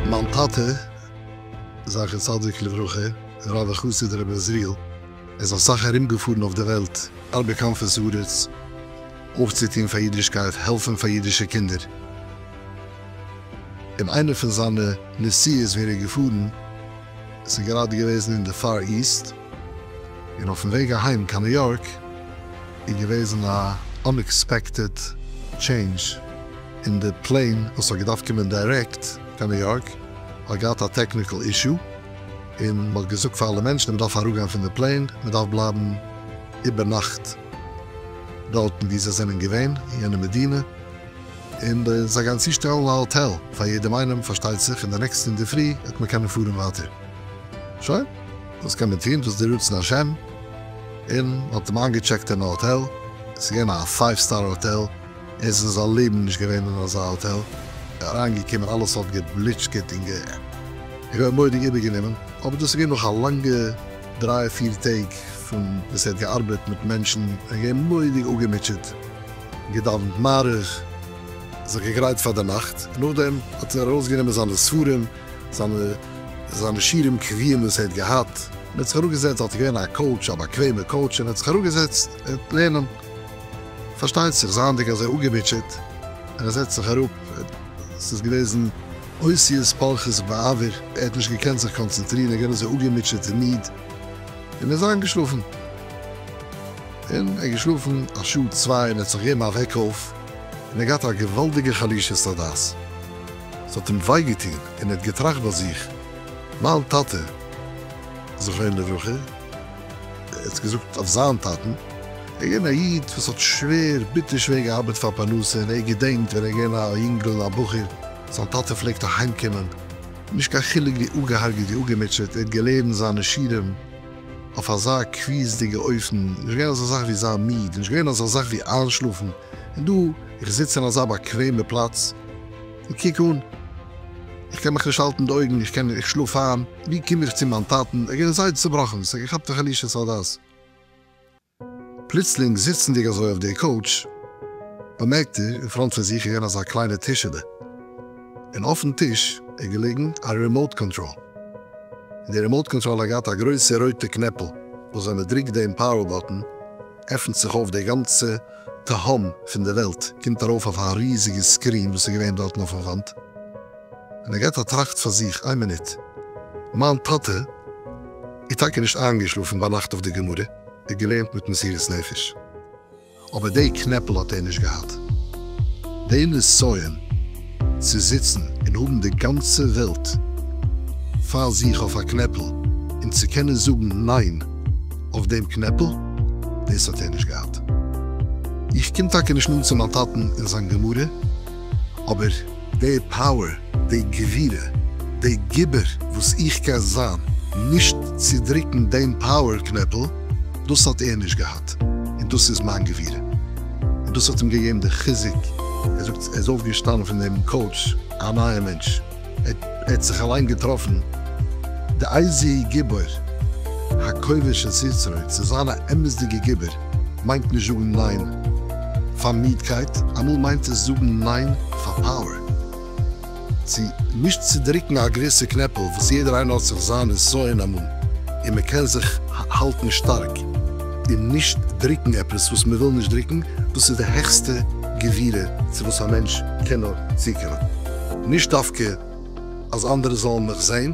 מיין טאטע זכר צדיק לברכה רב וחסיד רבי עזריאל איז אסאך ארום געפארן אויף די וועלט ארבעט קיין חוץ לארץ אויפצוטון פאר אידישקייט העלפן פאר אידישע קינדער. אין איינע פון זיינע נסיעות ווען ער איז געפארן, עס איז גראדע געוועזן אין די פאר איסט, און אויפן וועג אהיים קיין ניו יארק איז געוועזן א אנעקספעקטעד טשעינדזש, און די פלעין וואס האט געדארפט קומען דירעקט קיין ניו יארק האט געהאט א טעקניקעל אישו, און מען האט געזאגט פאר אלע מענטשן מען דארף אראפגיין פון די פלעין, מען דארף בלייבן איבערנאכט דארטן וואו זיי זענען געווען אין יענע מדינה. און זיי גייען צושטעלן א האטעל פאר יעדעם איינעם פארשטייט זיך, און די נעקסטע אינדערפרי וועט מען קענען פארן ווייטער. שוין. וואס קען מען טון, דאס איז די רצון השם. און מ'האט אים איינגעטשעקט אין א האטעל, עס איז געווען א פייוו סטאר האטעל, ער איז אין זיין לעבן נישט געווען אין אזא האטעל, אריינגעקומען אלעס האט געבליטשקעט און געווען מורא'דיג איבערגענומען, אבער דאס איז געווען נאך א לאנגע דריי פיר טעג פון וואס ער האט געארבעט מיט מענטשן, ער איז געווען מורא'דיג אפגעמוטשעט. געדאוונט מעריב, זיך געגרייט פאר די נאכט, און נאכדעם האט ער ארויסגענומען זיינע ספרים, זיינע שירים קביעים וואס ער האט געהאט, און האט זיך אראפגעזעצט, דארט איז געווען א קאוטש, א באקוועמע קאוטש, און האט זיך אראפגעזעצט לערנען. פארשטייט זיך, זייענדיג אזוי אפגעמוטשעט, און ער זעצט זיך אראפ, ס'איז געוועזן אותיות פולחות בעבור, ער האט נישט געקענט זיך קאנצענטרירן, ער איז געווען אזוי אפגעמוטשעט און מיד, און ער איז איינגעשלאפן. און ער האט געשלאפן א שעה צוויי און ער האט זיך געגעבן א וועק אויף און ער האט געהאט א געוואלדיגע חלישות הדעת, ס'האט אים וויי געטון און ער האט געטראכט ביי זיך, מיין טאטע זכרונו לברכה, ער האט געזאגט אויף זיין טאטן, ער איז געווען א איד וואס האט שווער, ביטער שווער געארבעט פאר פרנסה און ער געדענקט ווען ער איז געווען א יונגל, א בחור, זיין טאטע פלעגט אהיימקומען, נישט קיין חילוק ווי אפגעהארגעט, ווי אפגעמוטשעט, ער האט געלערנט זיינע שירים. אויף אזא קביעות'דיגע אופן, נישט געווען אזא זאך ווי זיין מיד, נישט געווען אזא זאך ווי איינשלאפן, און דא, איך זיץ אין אזא באקוועמע פלאץ, און קוק אן, איך קען מיך נישט האלטן די אויגן, איך קען, איך שלאף איין, ווי קום איך צו מיין טאטן, איך בין זייער צובראכן, ס'געכאפט א חלישות הדעת. פלוצלינג זיצנדיג אזוי אויף די קאוטש, באמערקט ער אין פראנט פון זיך געווען אזא קליינע טישעלע, און אויפן טיש איז געליגן א רימאוט קאנטראל, און די רימאוט קאנטראל האט געהאט א גרויסע רויטע קנעפל, וואס ווען מען דרוקט דעם פאוער באטן, עפנט זיך אויף די גאנצע תהום פון די וועלט, קומט ארויף אויף א ריזיגע סקרין וואס איז געווען דארטן אויפן וואנט, און ער געט א טראכט פאר זיך, איין מינוט, מיין טאטע איז טאקע נישט איינגעשלאפן ביינאכט אויף די גמרא? ער געלערנט מיט מסירות נפש, אבער דעי קנעפל האט ער נישט געהאט. דעי נסיון צו זיצן און האבן די גאנצע וועלט פאר זיך אויף א קנעפל און צו קענען זאגן ניין אויף דעם קנעפל, דאס האט ער נישט געהאט. איך קום טאקע נישט נאנט צו מיין טאטן און זיין גמרא, אבער. די פאוער, די גבירה, די גיבור וואס איך קען זיין נישט צו דריקן דעם פאוער קנעפל, דאס האט ער נישט געהאט, און דאס איז מיין גבירה, און דאס האט אים געגעבן די חיזוק, ער זאגט ער איז אויפגעשטאנען פון דעם קאוטש א נייער מענטש, ער האט זיך אליין געטראפן די אייזיע גיבור, הכובש את יצרו, צו זיין א אמת'דיגע גיבור. מיינט נישט זאגן ניין פאר מידקייט, אמאל מיינט עס זאגן ניין פאר פאוער, צו נישט צודריקן א געוויסע קנעפל וואס יעדער איינער האט זיך זיין נסיון אמאל און מען קען זיך האלטן שטארק און נישט דריקן עפעס וואס מען וויל נישט דריקן, דאס איז די העכסטע גבירה צו וואס א מענטש קען נאר צוקומען, נישט דווקא אז אנדערע זאלן מיך זען.